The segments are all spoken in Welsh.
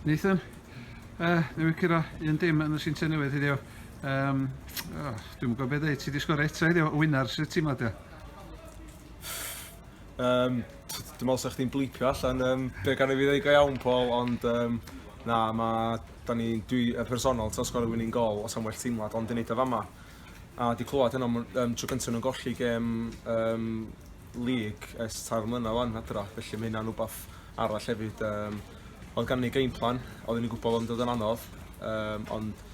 Nathan, uh, newydd cyrra un dim yn y Sinta Newydd heddiw. Um, oh, dwi'n gwybod beth dweud, ti wedi sgor eto heddiw, o wynar, sydd ti'n meddwl? Um, dwi'n meddwl sa'ch ti'n blipio allan um, be gan i fi ddweud go iawn, Paul, ond um, na, mae, da ni, dwi, y personol, ti'n sgor y winning goal, os am well teimlad, ond dwi'n neud o fama. A wedi clywed hynna am um, tro gyntaf nhw'n golli gem um, lig ers tair mlynedd wan adra, felly mae hynna'n rhywbeth arall hefyd. Um, oedd gan ni game plan, oedd ni'n gwybod bod yn dod yn anodd, um, ond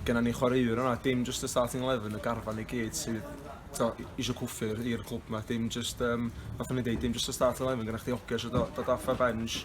gennym ni chwaraewr yna, dim just y starting 11, y garfan i gyd sydd to, eisiau cwffur i'r clwb yma, dim just, um, fatha ni'n dweud, dim just y starting 11, gyda chdi ogio eisiau dod off a bench,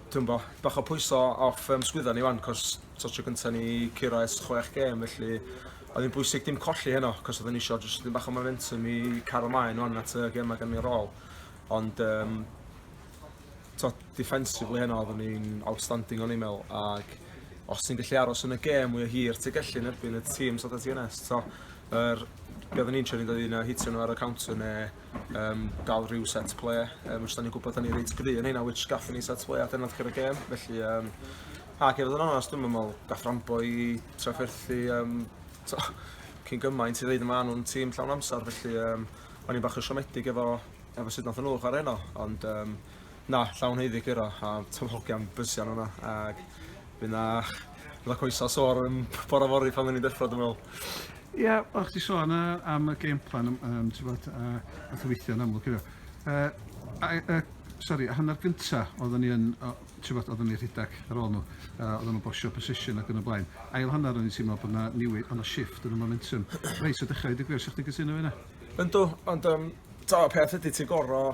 Dwi'm bo, bach o pwyso off ym sgwydda ni wan cos t'o tro gynta ni curo es chwech gêm felly oedd hi'n bwysig dim colli heno cos oedden ni isio jyst dipyn bach o momentum i cario mlaen wan at y gema gan ni ar ôl ond um, t'o defensively heno oedden ni'n outstanding o'n i'n meddwl ac os ti'n gallu aros yn y gêm mwy o hir ti'n gallu yn erbyn y tîm sydd ti yn es t'o yr be oedden ni'n trio ni'n dod un a hitio nhw ar y counter neu um, dal rhyw set ple, um, os da ni'n gwybod da ni reit gry yn hynna, which gathon ni set ple a dyna ddechrau y gêm, felly, um, ac efo yn onest, dwi'n meddwl, gath rambo i trafferthu, um, to, cyn gymaint i ddeud yma nhw'n tîm llawn amser, felly um, o'n i'n bach yn siomedig efo, efo sut nath nhw chwarae heno, ond um, na, llawn heiddi gyro, a tyfodion bysian hwnna, ac By na fydda coesau sor yn bora fori pan ni'n deffro dwi'n meddwl. Ia, o'ch ti sôn uh, am y game plan, um, um, ti'n bod, uh, nath weithio yn amlwg iddo. Uh, uh, sorry, a hanner gynta oedden ni yn, uh, ti'n bod, oedden ni rhedeg ar ôl nhw, uh, oedden nhw'n bosio position ac yn y blaen. Ail hanner o'n i'n teimlo bod yna newid, ond y shift yn y momentum. Reis o dechrau, dwi'n gwir, sa'ch ti'n gytuno fi yna? Ynddo, ond um, ta peth ydy ti'n gorau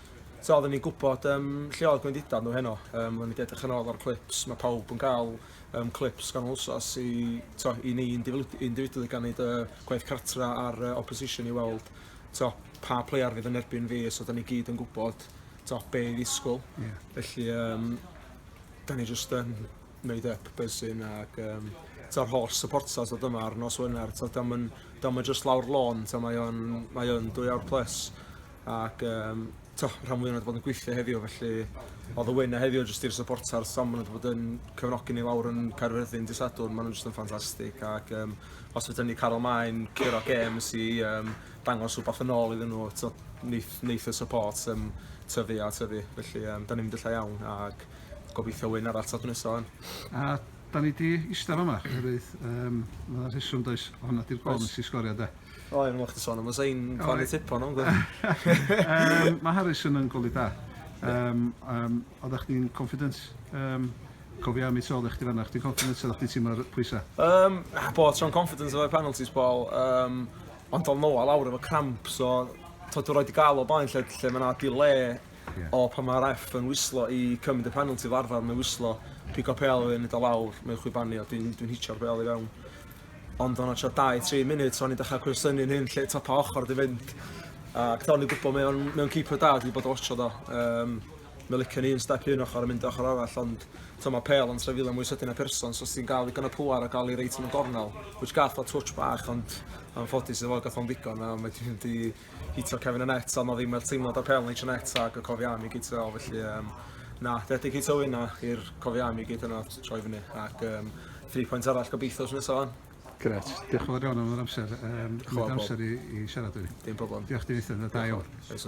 Tibod, oedden ni'n gwybod um, lle oedd gwendidau nhw heno. Um, oedden ni wedi edrych yn ôl ar clips. Mae pawb yn cael um, clips gan wsos i, to, i ni individually gan neud uh, gwaith cartra ar uh, opposition i weld to, pa player fydd yn erbyn fi. So, oedden ni gyd yn gwybod to, be i ddisgwyl. Yeah. Felly, um, da ni jyst yn made up buzzing ac um, ta'r holl supporters oedd yma ar nos Wener, ta dam yn, dam yn just lawr lôn, ta mae o'n, mae o'n dwy awr plus. ac um, to, rhan fwy o'n bod yn gweithio heddiw, felly oedd y wyn a heddiw jyst i'r supporters, so maen nhw wedi bod yn cyfnogi ni lawr yn Caerfyrddin di Sadwrn, maen nhw'n jyst yn ffantastig, ac um, os fydden ni cael ymlaen curo games i um, dangos rhywbeth yn ôl iddyn nhw, to, neith, neith y support um, tyfu a tyfu, felly um, da ni'n mynd lle iawn, ac gobeithio wyn arall tad nesaf. A da ni di eistedd yma, oherwydd um, mae yna rheswm does, hwnna di'r gol nes i sgorio de. O, yn mwch ti sôn am y sain pan y tipo nhw'n gwybod. Mae Harrison yn goli da. Um, um, oeddech chdi'n confident? Um, cofio am i tol eich ti fanna, chdi'n confident oeddech chdi tîm ar pwysau? Um, bo, tro'n confident o'r penalties bol. Um, ond o'n nôl awr efo cramp, so tod o'r oed i gael o blaen lle, lle mae yna delay yeah. o pan mae'r F yn wislo i cymryd y penalty fel arfer, mae'n wislo, pico pel yn nid o lawr, mae'n chwibanu o dwi'n dwi hitio'r pel i fewn. Ond o 'na tua dau, tri munud, o'n i'n dechrau cwestiynu'n hun lle top a ochr 'di fynd. Ac o'n i'n gwybod mae o'n mae o'n keeper da, dwi 'di bod yn watsio do. Yym mae licio ni un step un ochr a mynd ochr arall, ond t'o' ma' pêl yn trefilo mwy sydyn na person, so os ti'n gael ddigon o pŵar a gael i reit yn y gornel, which gath o twtsh bach ond anffodus iddo fo gath o'n ddigon a mae 'di mynd i hitio cefn y net ond oedd ddim yr teimlad o'r pêl neitio net ag y cofiau am i gyd fel felly um, na, debyg hitio hynna i'r cofiau am i gyd yna troi fyny ac um, 3 pwynt arall gobeithio sy'n nesaf fan. Gret, diolch yn fawr iawn am yr amser, um, chyfyd amser i, i siarad â fi. Dim problem. Diolch di Nathan, da iawn. Oes